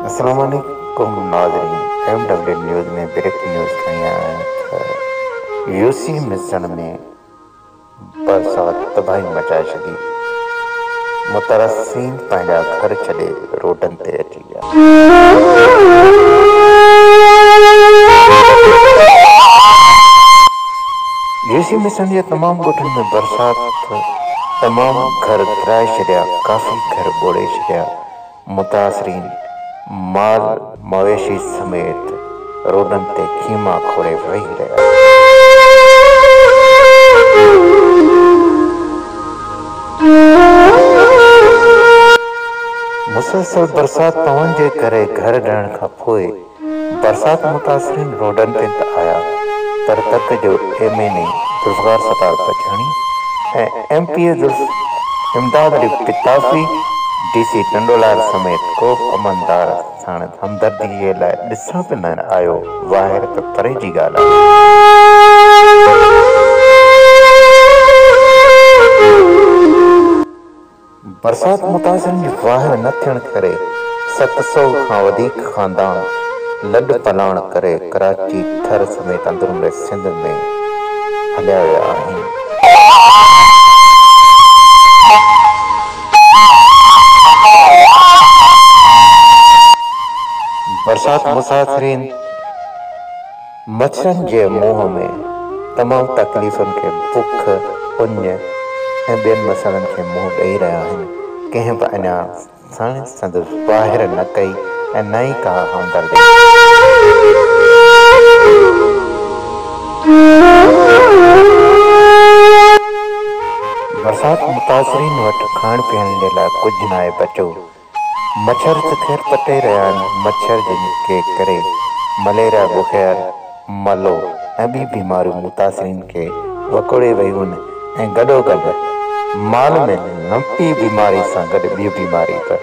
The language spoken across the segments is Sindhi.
اسلام عليڪم ناظرين M W news ۾ breaking news کڻي آيا آهيون ته يوسي مصن ۾ برسات تباهي مچائي ڇڏي مترسين پنهنجا گهر ڇڏي روڊن تي اچي ويا. يوسي مصن جي تمام ڳوٺن ۾ برسات ٿو. تمام گهر ڪرائي ڇڏيا، ڪافي گهر ٻوڙي ڇڏيا، متاثرين مال مويشي سميت روڊن تي خيما کوڙي ويهي رهيا. مسلسل برسات پوڻ جي ڪري گهر ڊهڻ کانپوء برسات متاثرين روڊن تي ته آيا پر تت جو M N A Zulfiqar Sattar Pachani ۽ M P A ذوالف امداد علي پتافي، ڊي سي ٽنڊولار سميت ڪوبه عملدار ساڻس همدردي جي لاء ڏسڻ به نه آيو واهر ته پري جي ڳالهه آهي. برسات متاثرن جي واهر نه ٿيڻ ڪري ست سؤ کان وڌيڪ خاندان لڏ پلاڻ ڪري ڪراچي، ٿر سميت اندروني سنڌ ۾ هليا ويا آهن. برسات متاثرين. مڇرن جي منهن ۾ تمام تڪليفن کي بک، اڃ ۽ ٻين مسئلن کي منهن ڏئي رهيا آهن. ڪنهن به اڃا سڻ سندس واهر نه ڪئي ۽ نه ئي ڪا همدردي ڏني. برسات متاثرين وٽ کائڻ پيئڻ جي لاء ڪجهه ناهي بچو مڇر تکير پٽي رهيا آهن، مڇر جن کي ڪري مليريا، بخير، ملو ۽ ٻي بيماريون متاثرين کي وڪوڙي ويون ۽ گڏوگڏ مال ۾ لنپي بيماري سان گڏ ٻيون بيماري به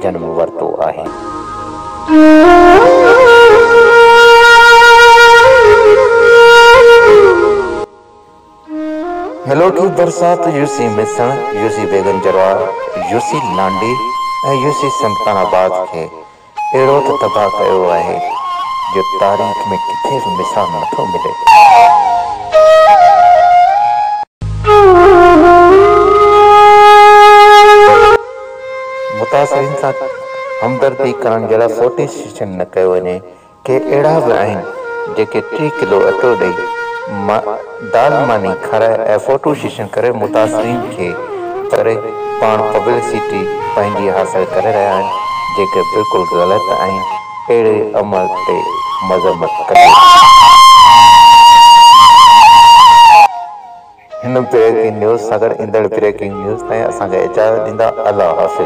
جنم ورتو آهي. ملوڪي برسات يوسي ميسڻ، يوسي بيگم جروار، يوسي لانڊي ۽ يوسي سمڪان آباد کي اهڙو ته تباهه ڪيو آهي جو تاريخ ۾ ڪٿي به مثال نه ٿو ملي. متاثرين سان همدردي ڪرڻ جهڙا سوٽي سيشن نه ڪيو وڃي. ڪي اهڙا به آهن جيڪي ٽي ڪلو اٽو ڏئي دال ماني کارائي ۽ فوٽو سيشن ڪري متاثرين کي ڪري پاڻ پبلسٽي پنهنجي حاصل ڪري رهيا آهن جيڪي بلڪل غلط آهن اهڙي عمل تي مذمت ڪجي هن بريڪنگ نيوز سان گڏ ايندڙ بريڪنگ نيوز تائين اسان کي اجازت ڏيندا الله حافظ.